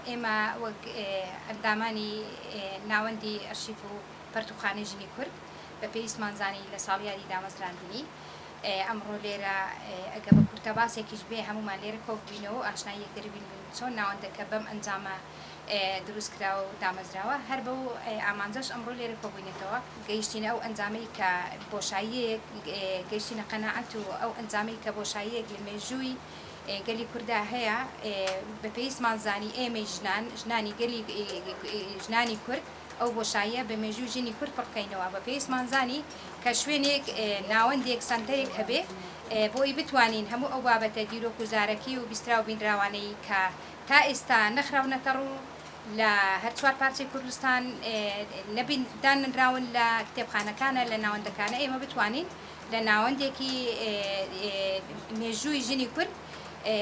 ئێمە وەک ئەندامانی ناوەندی ئەرشیف و پەرتووخانەی ژنی کورد بە پێویستمان زانی لە ساڵیادی دامەزراندنی، ئەمڕۆ لێرە ئەگە بە کورتەباسێکیش بێ هەموومان لێرە کۆببینەوە و ئاشنای یەکتری بین و چۆن ناوەندەکە بەم ئەنجامە دروست کراوە و دامەزراوە هەر بەو ئامانجەش ئەمڕۆ لێرە کۆبووینەتەوە گەیشتینە ئەو ئەنجامەی کە بۆشاییەک گەیشتینە قەناعەت و ئەو ئەنجامەی کە بۆشاییەک لە مێژووی گەلی کوردا هەیە بە پێویستمان زانی ئێمەی ژنان ژنانی گەلی ژنانی کورد ئەو بۆشاییە بە مێژووی ژنی کورد پڕ بکەینەوە، بە پێویستمان زانی کە شوێنێک، ناوەندێک، سەنتەرێک هەبێ بۆ ئەوی بتوانین هەموو ئەو بابەتە دیرۆک و زارەکی و بیستراو بینراوانەی کە تا ئێستا نەخراونەتە ڕوو لە هەر چوار پارچەی کوردستان نەبین داننراون لە کتێبخانەکانە لە ناوەندەکانە ئێمە بتوانین لە ناوەندێکی مێژووی ژنی کورد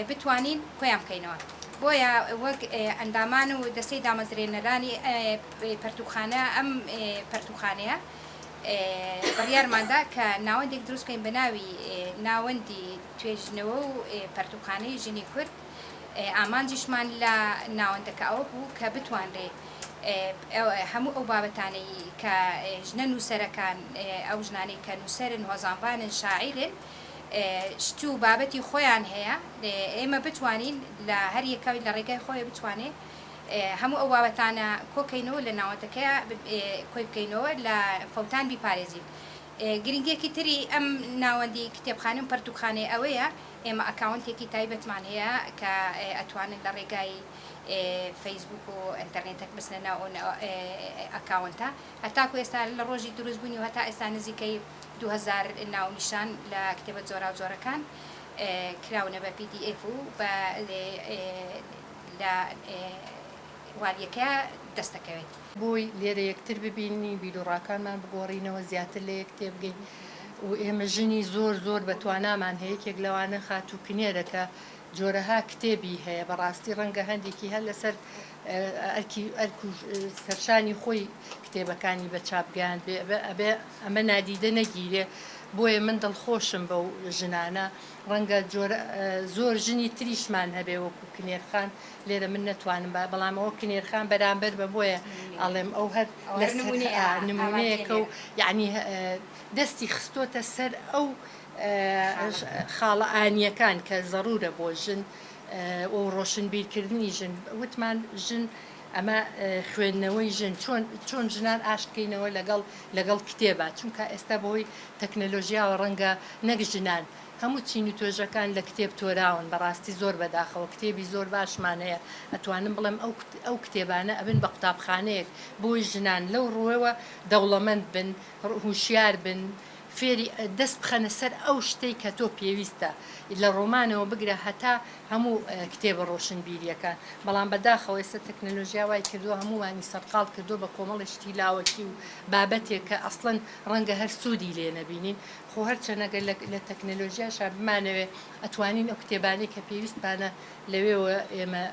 بتوانین کۆیان بکەینەوە. بۆیە وەک ئەندامان و دەستەی دامەزرێنەرانی پەرتووکخانە ئەم پەرتووکخانەیە بڕیارماندا کە ناوەندێک دروست بکەین بە ناوی ناوەندی توێژینەوە و پەرتووکخانەی ژنی کورد ئامانجیشمان لە ناوەندەکە ئەوە بوو کە بتوانرێ هەموو ئەو بابەتانەی کە ژنە نووسەرەکان ئەو ژنانەی کە نووسەرن هۆزانبانن شاعیرن شت و بابەتی خۆیان هەیە ئێمە بتوانین لە هەر یەکەوی لە ڕێگای خۆێ بتوانێ هەموو ئەو بابەتانە کۆکەینەوە لە ناوەندەکەیا کۆی بکەینەوە لە فەوتان بیپارێزین گرنگێکی تری ئەم ناوەندی کتێبخانە و پەرتوکخانەی ئەوەیە ئێمە ئەکاونتێکی تایبەتمان هەیە کە ئەتوانن لە ڕێگای فەیسبوک و ئەتەرنێتەک بچنە ناو ئەکاونتە هەتاکو ئێستا لە ڕۆژی دروستبوونی و هەتا ئێستا نزیکەی دوو هەزار ناونیشان لە کتێبە جۆراوجۆرەکان کراونە بە پی دی ئێف و بە لە والیەکە دەست دەکەوێت. بۆی لێرە یەکتر ببینین، بیروڕاکانمان بگۆڕینەوە، زیاتر لە یەک تێبگەین و ئێمە ژنی زۆر زۆر بە توانامان هەیە، یەکێک لەوانە خاتوو کنێرە کە جۆرەها کتێبی هەیە، بەڕاستی ڕەنگە هەندێکی هەر لەسەر ئەرکی ئەرک و سەرشانی خۆی کتێبەکانی بە چاپ گەیاندبێ، ئەبێ ئەمە نادیدە نەگیرێ بۆیە من دڵخۆشم بەو ژنانە ڕەنگە جۆرە زۆر ژنی تریشمان هەبێ وەکو کنێرخان لێرە من نەتوانم با بەڵام ئەوە کنێرخان بەرامبەر بە بۆیە ئەڵێم ئەو هەر لە نمونەیەکە و یعنی دەستی خستۆتە سەر ئەو خاڵە ئانیەکان کە زەڕورە بۆ ژن و ڕۆشنبیرکردنی ژن وتمان ژن ئەمە خوێندنەوەی ژن چۆن چۆن ژنان ئاشت بکەینەوە لەگەڵ لەگەڵ کتێبە چونکە ئێستا بەهۆی تەکنەلۆژیاوە ڕەنگە نەک ژنان هەموو چین و توێژەکان لە کتێب تۆراون بەڕاستی زۆر بەداخەوە کتێبی زۆر باشمان هەیە ئەتوانم بڵێم ئەو ئەو کتێبانە ئەبن بە قوتابخانەیەک بۆی ژنان لەو ڕووەوە دەوڵەمەند بن هوشیار بن فێری دەست بخەنە سەر ئەو شتەی کە تۆ پێویستە لە ڕۆمانەوە بگرە هەتا هەموو کتێبە ڕۆشنبیریەکان بەڵام بەداخەوە ئێستا تەکنەلۆژیا وای کردووە هەمووانی سەرقاڵ کردووە بە کۆمەڵی شتی لاوەکی و بابەتێک کە ئەسڵەن ڕەنگە هەر سوودی لێ نەبینین خۆ هەرچەنە گەر لە تەکنەلۆژیاشا بمانەوێ ئەتوانین ئەو کتێبانەی کە پێویستمانە لەوێوە ئێمە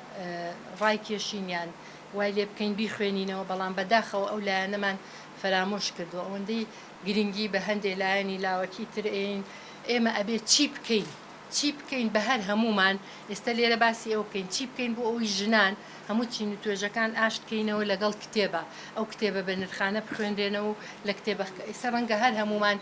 ڕای کێشین یان وای لێ بکەین بیخوێنینەوە بەڵام بەداخەوە ئەو لایەنەمان فەرامۆش کردووە ئەوەندەی گرنگی بە هەندێ لایەنی لاوەکی تر ئێین ئێمە ئەبێ چی بکەین چی بکەین بە هەر هەموومان ئێستا لێرە باسی ئەوە بکەین چی بکەین بۆ ئەوەی ژنان هەموو چین و توێژەکان ئاشت کەینەوە لەگەڵ کتێبە ئەو کتێبە بە نرخانە بخوێنرێنەوە و لە کتێبە ئێستا ڕەنگە هەر هەموومان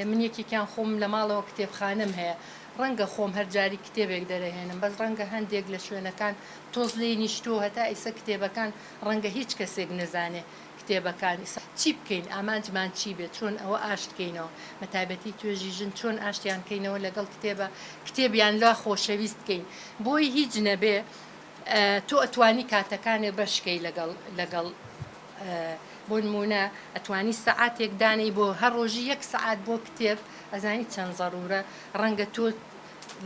من یەکێکیان خۆم لە ماڵەوە کتێبخانەم هەیە ڕەنگە خۆم هەر جاری کتێبێک دەرەهێنم بەس ڕەنگە هەندێک لە شوێنەکان تۆز لێی نیشتووە هەتا ئیسە کتێبەکان ڕەنگە هیچ کەسێک نەزانێ کتێبەکان ئیسە چی بکەین ئامانجمان چی بێت چۆن ئەوە ئاشت کەینەوە بەتایبەتی توێژی ژن چۆن ئاشتیان کەینەوە لەگەڵ کتێبە کتێب یان لا خۆشەویست کەین بۆی هیچ نەبێ تۆ ئەتوانی کاتەکانێ بەشکەی لەگەڵ لەگەڵ بۆ نمونە ئەتوانی سەعاتێک دانەی بۆ هەر ڕۆژی یەک سەعات بۆ کتێب ئەزانی چەند زەرورە ڕەنگە تۆ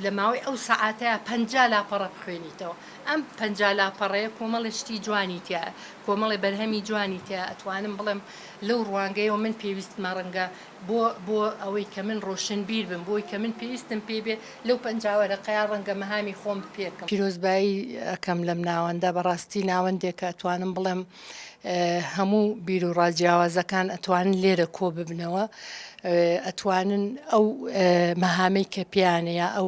لە ماوەی ئەو سەعاتەیا پەنجا لاپەڕە بخوێنیتەوە، ئەم پەنجا لاپەڕەیە کۆمەڵێ شتی جوانی تیایە، کۆمەڵێ بەرهەمی جوانی تیایە، ئەتوانم بڵێم لەو ڕوانگەیەوە من پێویستمە ڕەنگە بۆ بۆ ئەوەی کە من ڕۆشنبیر بم، بۆی کە من پێویستم پێی بێ، لەو پەنجا وەرەقەیا ڕەنگە مەهامی خۆم پێکەم. پیرۆزبایی ئەکەم لەم ناوەندە، بەڕاستی ناوەندێکە ئەتوانم بڵێم هەموو بیروڕا جیاوازەکان ئەتوانن لێرە کۆ ببنەوە ئەتوانن ئەو مەهامەی کە پێیانەیە ئەو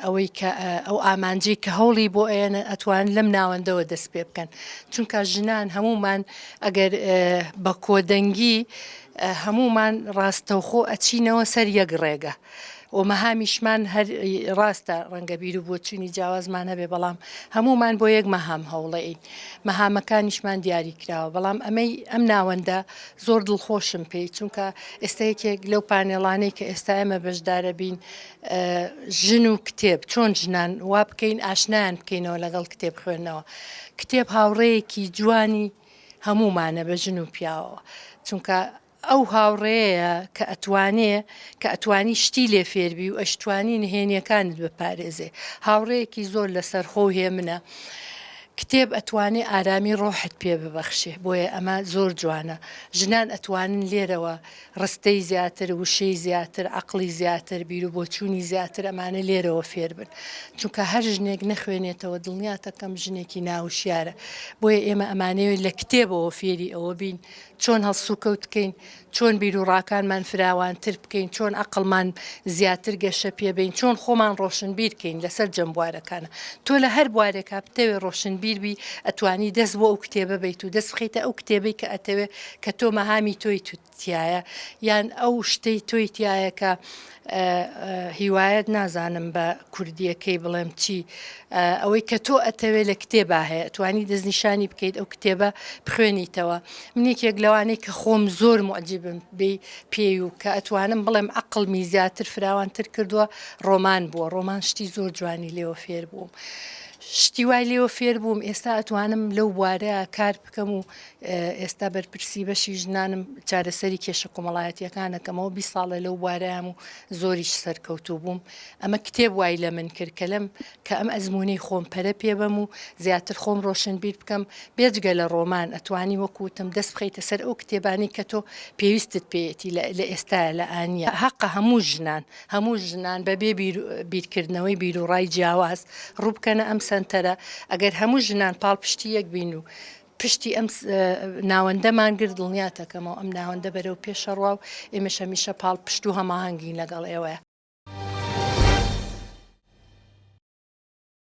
ئەوەی کە ئەو ئامانجی کە هەوڵی بۆ ئەیەنە ئەتوان لەم ناوەندەوە دەست پێ بکەن چونکە ژنان هەمومان ئەگەر بە کۆدەنگی هەمومان ڕاستەوخۆ ئەچینەوە سەر یەک ڕێگە ومەهامیشمان هەر ڕاستە ڕەنگە بیرو بۆچونی جیاوازمان هەبێ بەڵام هەموومان بۆ یەک مەهام هەوڵەین مەهامەکانیشمان دیاری کراوە بەڵام ئەمەی ئەم ناوەندە زۆر دڵخۆشم پێی چونکە ئێستا یەکێک لەو پانێڵانەی کە ئێستا ئێمە بەشدارەبین ژن و کتێب چۆن ژنان وا بکەین ئاشنایان بکەینەوە لەگەڵ کتێب خوێندنەوە کتێب هاوڕەیەکی جوانی هەموومانە بە ژن و پیاوەوە چونکە ئەو هاوڕێیە کە ئەتوانێ کە ئەتوانی شتی لێ فێربی و ئەشتوانی نهێنیەکانت بپارێزێ هاوڕێیەکی زۆر لەسەرخۆ و هێمنە کتێب ئەتوانێ ئارامی ڕۆحت پێ ببەخشێ بۆیە ئەمە زۆر جوانە ژنان ئەتوانن لێرەوە ڕستەی زیاتر وشەی زیاتر عەقڵی زیاتر بیرو بۆچوونی زیاتر ئەمانە لێرەوە فێربن چونکە هەر ژنێک نەخوێنێتەوە دڵنیاتەکەم ژنێکی ناوشیارە بۆیە ئێمە ئەمانەوێت لە کتێبەوە فێری ئەوە بین چۆن هەڵسوکەوت بکەین، چۆن بیروڕاکانمان فراوانتر بکەین، چۆن ئەقڵمان زیاتر گەشە پێبەین، چۆن خۆمان ڕۆشنبیر کەین لە سەرجەم بوارەکانا. تۆ لە هەر بوارێکا بتەوێ ڕۆشنبیر بی، ئەتوانی دەست بۆ ئەو کتێبە بەیت و دەست بخەیتە ئەو کتێبەی کە ئەتەوێ کە تۆ مەهامی تۆی تیایە یان ئەو شتەی تۆی تیایە کە هیوایەت نازانم بە کوردییەکەی بڵێم چی، ئەوەی کە تۆ ئەتەوێ لە کتێبا هەیە، ئەتوانی دەستنیشانی بکەیت ئەو کتێبە بخوێنیتەوە. من یەکێک لەوانەی کە خۆم زۆر موعجیبم بی پێی و کە ئەتوانم بڵێم عەقڵمی زیاتر فراوانتر کردووە، ڕۆمان بووە. ڕۆمان شتی زۆر جوانی لێوە فێر بووم. شتی وای لێوە فێر بووم ئێستا ئەتوانم لەو بوارەیا کار بکەم و ئێستا بەرپرسی بەشی ژنانم چارەسەری کێشە کۆمەڵایەتیەکانەکەمەوە بی ساڵە لەو بوارەیەم و زۆریش سەرکەوتوو بووم ئەمە کتێب وای لە من کرد کە لەم کە ئەم ئەزمموی خۆم پەرە پێبەم و زیاتر خۆم ڕۆشن بیر بکەم بێجگە لە ڕۆمان ئەتوانی وەکوتم دەست بخیتە سەر ئەو کتێبانی کە تۆ پێویستت پێێتی لە ئێستا لە ئاە حەقە هەموو ژنان هەموو ژنان بە بێ بیرکردنەوەی بیر و ڕای جیاواز ڕووبکەنە ئەم سنتەرە ئەگەر هەموو ژنان پاڵپشتی یەک بین و پشتی ئەم ناوەندەمان گرت، دڵنیاتەکەمەوە ئەم ناوەندە بەرەو پێشەڕوا و ئێمەش هەمیشە پاڵپشت و هەماهەنگین لەگەڵ ئێوە.